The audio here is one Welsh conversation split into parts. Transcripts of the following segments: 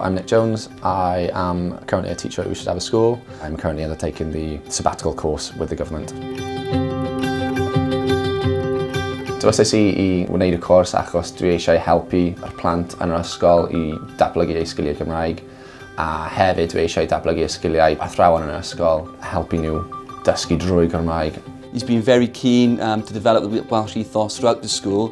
I'm Nick Jones. I am currently a teacher at Ushers Abbas School. I'm currently undertaking the sabbatical course with the government. Dywesais i i wneud y cwrs achos dwi eisiau helpu yr plant yn yr ysgol i datblygu eu sgiliau Cymraeg a hefyd dwi eisiau datblygu y sgiliau athrawon yn yr ysgol, helpu nhw dysgu drwy Cymraeg. He's been very keen um, to develop the Welsh ethos throughout the school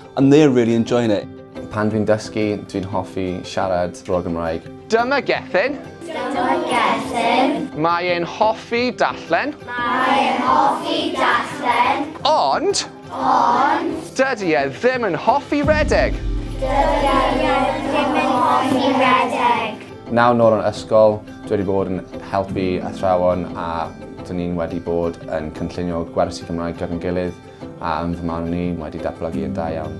And they're really enjoying it. Pan dwi'n dysgu, dwi'n hoffi siarad draw Gymraeg. Dyma Gethin. Dyma Gethin. Mae e'n hoffi darllen. Mae e'n hoffi darllen. Ond... Ond... Dydy e ddim yn hoffi redeg. Dydy e ddim yn hoffi redeg. Naw nôl yn ysgol, dwi wedi bod yn helpu athrawon a dyn ni'n wedi bod yn cynllunio gwersi Cymraeg gyda'n gilydd. A yn fy marn i, mae wedi datblygu yn da iawn.